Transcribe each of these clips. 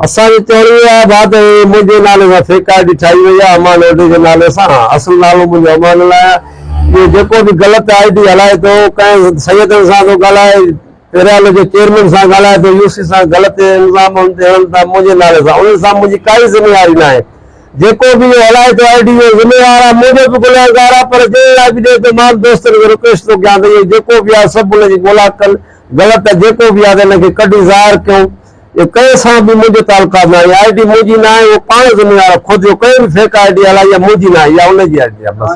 اسان جي چوڻ اها آهي ڀاء ته هي منهنجي نالي سان فيڪ آء ڊي ٺاهي وئي آهي امان ايڊي جي نالي سان اصل نالو منهنجو امان الاهي آهي اهو جيڪو به غلط آء ڊي هلائي ٿو ڪنهن سيدن سان ٿو ڳالهائي پيرال جي چيئرمين سان ڳالهاء ته يو سي سان غلط الزام هن تي هڻن ٿا منهنجي نالي سان انهن سان منهنجي ڪائي ذميواري ناهي جيڪو به اهو هلائي ٿو آء ڊي جي ذميوار آ منهنجو به گنهگار آ پر جنهن اهڙا وڊيو ته مان دوستن کي رڪويسٽ ٿو ڪيان ته اهو جيڪو به آ سڀ ان جي ڳولا ڪن غلط آ جيڪو به آ ته ان کي ڪڍي ظاهر ڪيون جو ڪنهن سان به منهنجو تعلقات ناهي اها آئي ڊي منهنجي ناهي اهو پاڻ ذميوار آهي خود جو ڪنهن به فيڪ آئي ڊي هلائي اها منهنجي ناهي اها ان جي آئي ڊي آهي بس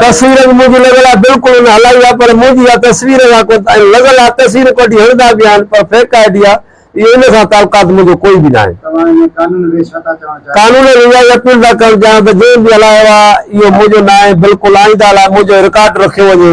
تصوير به منهنجي لڳل آهي بلڪل ان هلائي آهي پر منهنجي اها تصوير اها ڪو ۽ لڳل آهي تصويرون ڪڍي هڻدا به آهن پر فيڪ آئي ڊي آهي اهو ان سان تعلقات منهنجو ڪوئي به ناهي قانون ۾ اهائي اپيل ٿا ڪرڻ چاهيان ته جنهن به هلايو آهي اهو منهنجو ناهي بلڪل آئنده لاء منهنجو رڪارڊ رکيو وڃي